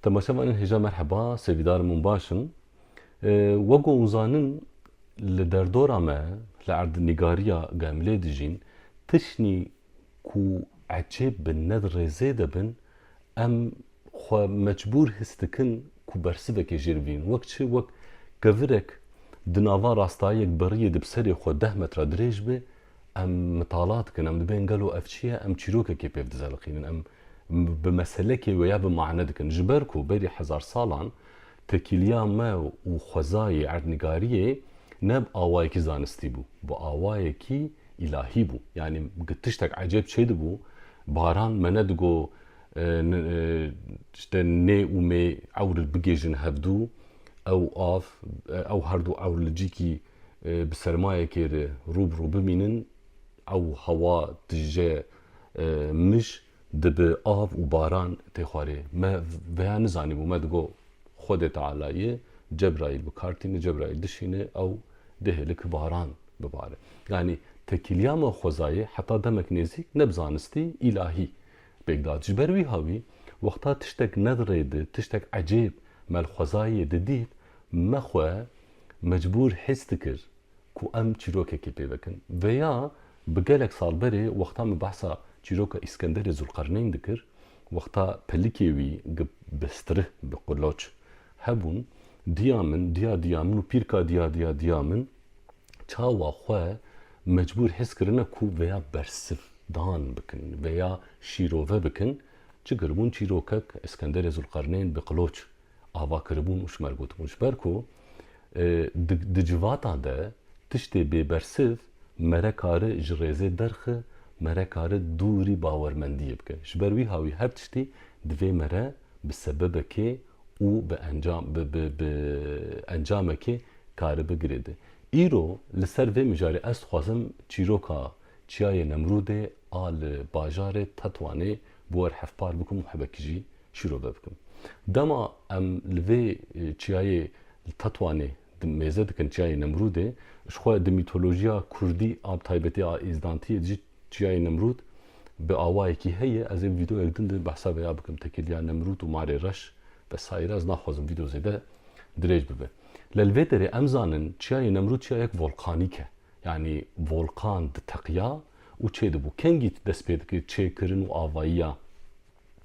Temaşevanên hêja merheba, sevîdarên min baş in. Wek û zanin li derdora me, li erdnîgariya gemlê dijîn, tiştî ku ecêb bin, ne di rêzê de bin, em xwe mecbûr his dikin ku bersivekê jê bigrin. Wek çi? Wek kevirek di nava rastayiyek beriyê di bi serê xwe deh metra dirêj be, em mitala dikin, em dibên gelo ev çi ye, em çîrokekê pêv dizeliqînin, em bi meselekê wê ya bi mane dikin. Ji ber ku berî hezar salan tekîliya me û xwezayê erdnîgariyê ne bi awayekî zanistî bû, bi awayekî îlahî bû. Yanî gi tiştek ecêb çêdibû, baran me nedigo işte nê û mê ewr li bigêjin hevdû, ew av, ew herdû ewr li cîkî bi sermayekê re rû bi rû bimînin ew hewa tije mij dibi av û baran tê xwarê. Me veya nizanîbû me digo Xwedê Teala yê Cebraîl bi kar tîne Cebraîl dişîne ew dihêle ki baran bibare. Yanî tekîliya me xwezayê heta demek nêzîk ne bi zanistî îlahî pêk da. Ji ber wîha wî wexta tiştek nedirêdi tiştek ecêb me li xwezayê didît me xwe mecbûr his dikir ku em çîrokekê pê bikin. Vêya bi gelek sal berê wexta min behsa çîroka Îskenderê Zûlqerneyn dikir, wexta pelikê wî gi bestrih, bi quloç, hebûn, diya min, diya diya min û pîrka diya diya diya min çawa xwe mecbûr his kirine ku vêya bersivdan bikin, vêya şîrove bikin, çi kiribûn çîrokek Îskenderê Zûlqerneyn bi qiloç Ava kiribûn û ji me re gotibûn. Ji ber ku di di civata de tiştê bêbersiv me re kari ji rêzê derxi, me re kari dûrî bawermendiyê bike. Ji ber wîha wî her tiştî divê me re bi sebebekê û bi encam bi bi bi encamekê karibi girêde. Îro li ser vê mijarê ez dixwazim çîroka Çiyayê Nemrûdê a li bajarê Tetwanê Bi wer hevpar bikim û hevekî jî şîrove bikim. Dema em li vê çiyayê li Tetwanê di mêze dikin çiyayê Nemrûdê, ji xwe di mîtolojiya kurdî a bi taybetî a Îzdantiyê de jî çiyayê Nemrûd bi awayekî heye. Ez ê vîdeoyek din de behsa vê ya bikim tekiliya Nemrûd û Marê Reş vesaîre. Ez naxwazim vîdeo zêde dirêj bibe. Lê li vê derê em zanin çiyayê Nemrûd çiyayek volkanîk e. Yanî volkan diteqiya û çê dibû. Kengî dest pê dikir çêkirin û avayiya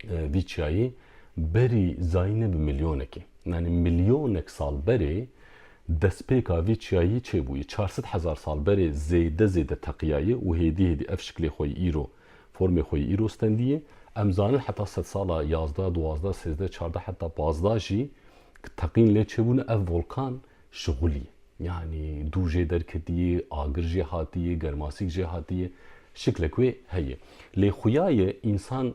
vî çiyayê berî zayîne bi milyonekê. Yanî milyonek sal berê destpêka vî çiyayî çê bûye. Çar sed hezar sal berê zêde zêde teqiyaye û hêdî hêdî ev şiklê xwe yî îro, formê xwe yî îro stendiye. Em zanin heta sed sala yazda, duwazda, sêzde, çarda heta pazdajî teqîn lê çêbûne ev volkan Şixulî, yanî dû jê derketiyê, agir jê hatiyê, germasîk jê hatiyê, şiklek wê heye. Lê xuya ye însan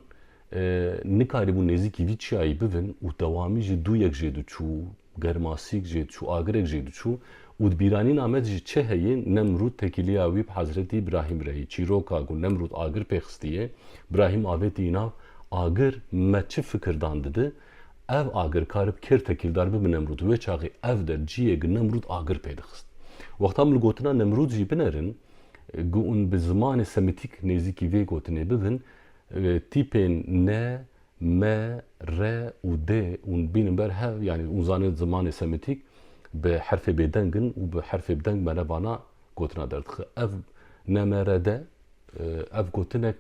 nikarîbû nêzîkî vî çiyayî bivin û dewamî jî dû yek jê diçû, germasîk jê diçû, agirek jê diçû û di bîranîna me de jî çi heye, Nemrûd tekîliya wî bi Hezretî Brahîm re yê. Çîroka ku Nemrûd agir pê xistiyê, Brahîm avêtî înan, Agir me çi fikirdan dide? Ev agir karib kêr tekîldar bibe Nemrûd. Wê çaxê ev der ciyê gi Nemrûd agir pê dixist. Wexta em li gotina Nemrûd jî binerin, gi ûn bi zimanê semitîk nêzîkî vê gotinê bibin, tîpên ne, me, re û dê ûn bînin ber hev, yanî ûn zanê zimanê semitîk bi herfê bêdeng in û bi herfê bideng me re vana gotina derdixe. Ev ne, me, re, de ev gotinek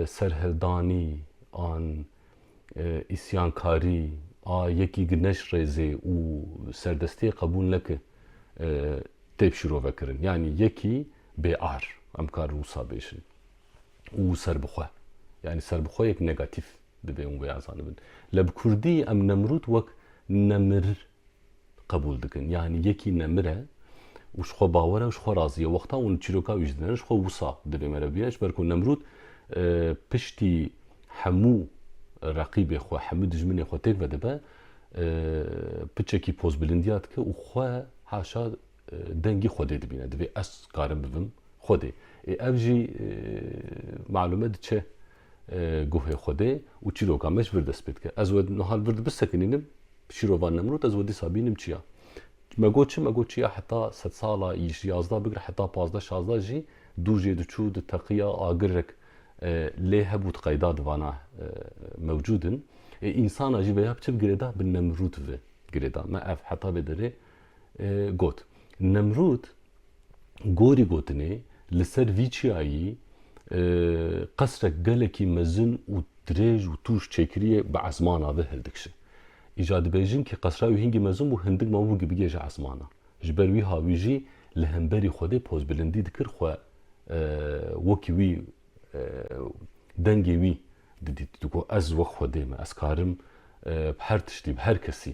serhildanî an îsyankarî a yekî gi neş rêzê û serdestiyê qebûl neke têp şîrovekirin. Yanî yekî bêar em karin wisa bêjin û serbixwe. Yanî serbixweyek negatîf dibe û vêya zanibin. Lê bi kurdî em Nemrûd wek nemir qebûl dikin. Yanî yekî nemir e û ji xwe bawer e û ji xwe razî ye. Wexta hûn çîroka wî ji didin ji xwe wisa divê me re bûye ji ber ku Nemrûd piştî hemû reqîbê xwe, hemû dijminê xwe têk vedibe, piçekî pozbilindiya dike û xwe haşa dengê Xwedê dibîne. Divê ez karim bibim Xwedê. Ê ev jî malûme diçe. Guhê Xwedê û çîroka me ji vir dest pê dike. Ez we niha li vir dibisekinînim, bi şîrova Nemrûd ez we dîsa bînim çiya. Me got çi? Me got çiya heta sedsala ji yazdeh bigire heta pazdeh şazdeh jî dû jê diçû, diteqiya, agirek lê hebû di qeyda di vana mewcûd in. Ê însanan jî vêya bi çi bi girêda? Bi Nemrûd ve girêda. Me ev heta vê derê got. Nemrûd Gorî gotinê li ser vî çiyayî qesrek gelekî mezin û dirêj û tûj çêkirîye bi esmana ve hildikşe. Îca dibêjin kî qesra wî hingî mezin bû hindik mabû kî bigêje esmana. Ji ber wî ha wî jî li hemberî Xwedê pozbilindî dikir xwe wekî wî dengê wî didît. Digot ez wek Xwedê me ez karim bi her tiştî bi her kesî.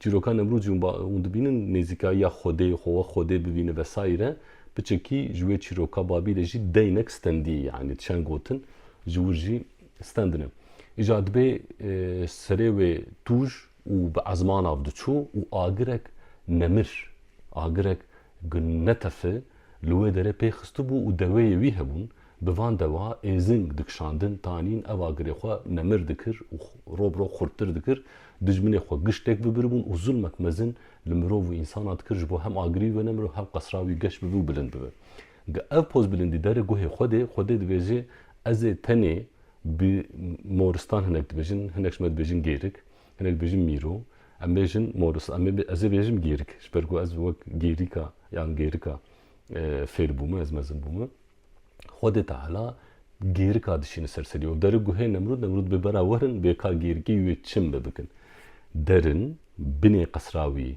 Çîroka Nemrûzî hûn ba hûn dibînin nêzîkayiya Xwedê, xwe wek Xwedê bibîne vesaîre. Bi çekî ji wê çîroka Babîlê jî deynek stendî yanî çend gotin ji wir jî stend in. Îja dibê serê wê tûj û bi ezmanav diçû û agirek nemir, agirek ku netefi li wê derê pê xistibû û deweyê wî hebûn, Bi van dewa êzing dikişandin, tanîn ev agirê xwe nemir dikir û rov bi rov xurttir dikir, dijminê xwe giştek bibiribûn û zulmek mezin li mirov û însanan dikir ji bo hem agirî wê nemir û hem qesra wî geş bibe û bilind bibe. Ga ev poz bilindî derê guhê xwe dê, xwe dê dibêje ez ê tenê bi moristan hinek dibêjin, hinek ji me dibêjin gêrik, hinek dibêjin mîro, em bêjin moris, em ê ez ê bêjim gêrik ji ber ku ez wek gêrîka yan gêrika fêr bûme, ez mezin bûme. Xwedê Teala gêrika dişîne ser serî û dere guhê Nemrûd, Nemrûd bê bera werin bê ka gêrikî wê çim bi bikin. Derin, binê qesra wî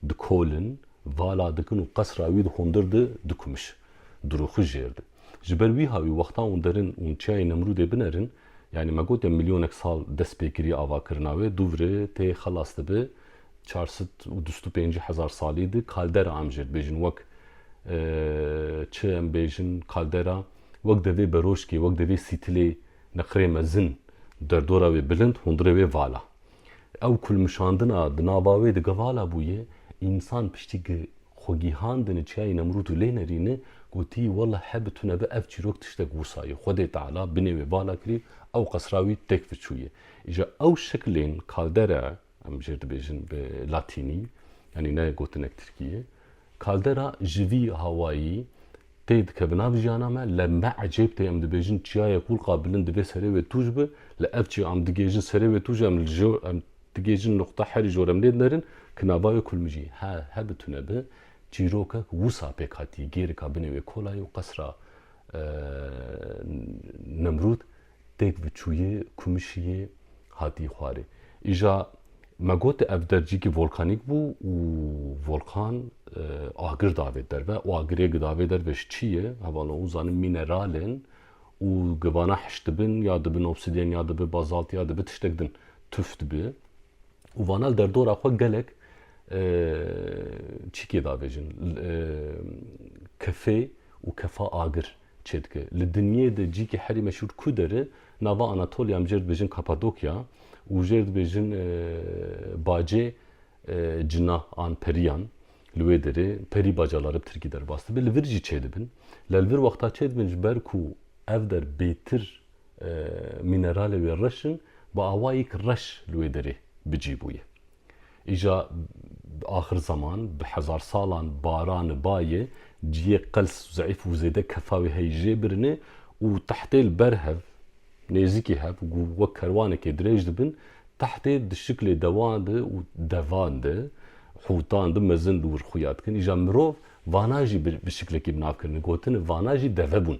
dikolin, vala dikin û qesra wî di hundir di dikumiş. Dirûxi jêr di. Ji ber wî ha wî wextan û derin û çiyayê Nemrûdê binerin, Yanî me gotin milyonek sal dest pê kiriye avakirina wê, Dûvri tê xelas dibe çar sed û dust û pêncî hezar salî di kaldera em jê dibêjin wek çi em bêjin kaldera wek di vê beroşkê wek di vê sîtilê neqirê mezin derdora wê bilind hundirê wê vala. Ew kulmişandina di nava wê de givala bûye, însan piştî gi xwe gîhandine çiyayê Nemrûd û lê nerîne, gotî, Wela he bi tu nebe ev çîrok tiştek wisa ye, Xwedê Teala binê wê vala kirî, ew qesra wî têk fiçûye. Îja ew şiklên kaldera, em jêr dibêjin bi latînî, yanî ne gotinek tirkî ye, Kaldera ji vî hawayî tê dikeve nav jiyana me, lem me ecêb tê em dibêjin çiyayê qûlqa bilind divê serê wê tûj bi, li ev çiya em digêjin serê wê tûj em li jo em digêjin nuqta herî jor em lê dinerin ki nava wê kulmijî he he bi tune bi çîrokek wisa pêk hatî gêrika binê wê kolayê û qesra Nemrûd têk viçûyê kumişiyê hatî xwarê. Îja me gotê ev der cîkî volkanîk bû û volkan agir davê derve û agirê gidavê derve ji çî ye? Hevano hûn zanin mîneral in û givana hiş dibin ya dibin obsidyen ya dibi bazalt ya dibi tiştek din tuf dibi û vana li derdora xwe gelek çîkê davêjin kefê û kefa agir. Çêdike. Li dinyê de cîkê herî meşhûr Kuder e. Nava Anatolya em jê re dibêjin Kapadokya û jê re dibêjin bacê cina an periyan. Li wê derê perî baca lare bi tirkî derbas dibe. Li vir jî çêdibin. Lê li vir wexta çêdibin ji ber ku ev der bêtir mîneralê wê reş in bi awayek reş li wê derê bi cî bûye. Îja di axir zeman, di hezarsalan barani bayê, ciyê qels, zeîf û zêde kefawê heyî jê birinê û tehtê li ber hev, nêzîkî hev û wek kerwanekê dirêj dibin, tehtê di şiklê dewan de û devan de, hûtan de mezin li wir xuya dikin. Îja mirov, vana jî bi şiklekî bi nav kirine, gotin e, vana jî deve bûn.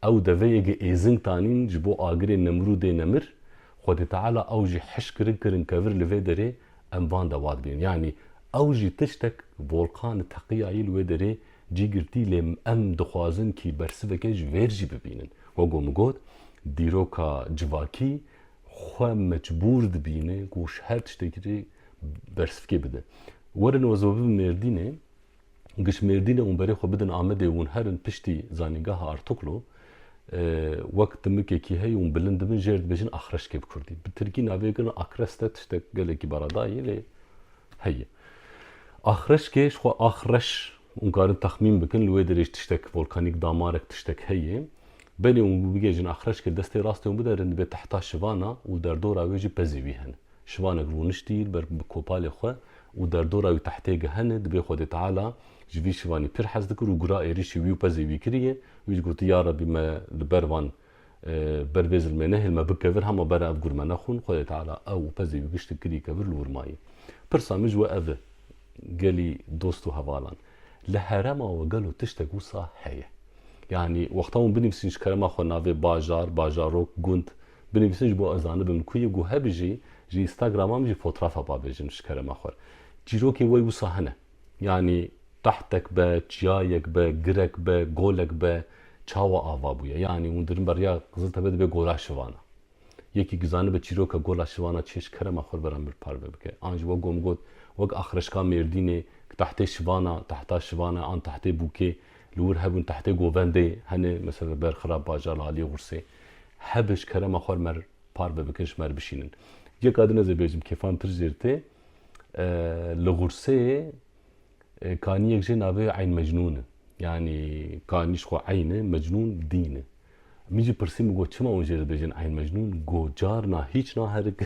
Ew deveyêgê êzing tanîn ji bo agirê Nemrûdê nemir, Xwedê Teala ew jî hişk kirin kirin kevir li vê derê em van dewa dibînin. Yanî ew jî tiştek volkan teqiyayî li wê derê cî girtî lê em dixwazin kî bersiveke ji vêr jî bibînin. Wek ku min got dîroka civakî xwe mecbûr dibîne ku ji her tiştekî bersivkê bide. Werin wezibabin Mêrdînê gişmêrdîne û berê xwe bidin Amedê û hûn herin piştî zanîngeha Artuklu wek dimikekî hey û hûn bilind dibin jêr dibêjin Axreşkê bi kurdî. Bi tirkî navê girin Akreste tiştek gelekî baradayî lê heye. Axreşkê ji xwe Axreş hûn karin texmîn bikin li wê derê jî tiştek volkanîk damarek tiştek heye. Berê hûn bigihêjin Axreşkê destê rastê hûn bide rin dibê tehta şivana û derdora wê jî pezê wî hene. Şivanek rûniştî li ber bi kopalê xwe û derdora wî tehtê gehene di bê Xwedê Teala ji vî şivanî pir hez dikir û gura êrîşî wî û pezê wî kiriye. Wî ji gotiye ya Rebî me li ber van ber vê zilmê nehêl me bikevir hema bera ev gur me nexwin. Xwedê Teala ew û pezê wî giştî kirî kevir li wir mayî. Pirsa min ji we ev e gelî dost û hevalan li herema we gelo tiştek wisa heye? Yanî wexta hûn binivîsîn ji kerema xwe navê bajar, bajarok, gund, Binivîsin ji bo ez zanibim ku yê ku hebijî ji Instagrama min jî fotrafa bavêjim ji kerema xwe. Çîrokê wê wisa hene. Yanî qehtek be, çiyayek be, girek be, golek be çawa ava bûye. Yanî hundirin be riya Qiziltepe dibe gola şivana. Yekî ku zanibe çîroka gola şivana çi ye ji kerema xwe li vera min bir parve bike. An ji we ku em got wek axirişka Mêrdînê ku tehtê şivana, tehta şivana an tehtê bûkê li wir hebûn tehtê govendê hene. Mesela li ber Xirab Bajar li aliyê Xûrsê. Hebij kerema xwer mer par be bikin ji mer bişînin. Yeka din ez ê bêjim kêfantir jêr tê. Li Xurseyê kaniyek jê navê wê Eyn Mecnûn e. Yanî kanî ji xwe eyn e, mecnûn dîn e. Min jî pirsî min got çima hûn jê re dibêjin eyn mecnûn? Got carna hîç naherik,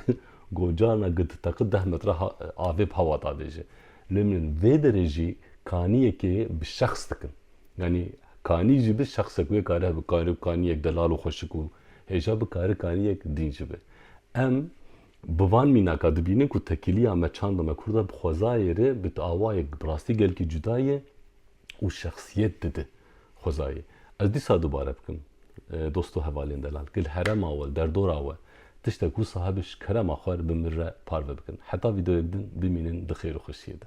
got carna gi diteqi deh metre avê bi hewa davêje. Lê min vê derê jî kaniyekê bi şexs dikim. Yanî kanî jî bi şexsek wê kare hebe, kare bi kaniyek delal û xweşik û hêja bi kare kaniyek dîn jî be. Em bi van mînaka dibînin ku tekiliya me, çanda me kurd e bi xwezayê re bi awayek bi rastî gelkî cuda ye û şexsiyet dide xwezayê. Ez dîsa dubare bikim dost û hevalên delal ki li herema we, derdora we tiştek wisa hebe ji kerema xwe re bi min re parve bikin. Heta vîdeoyek din bimînin di xêr û xweşiyê de.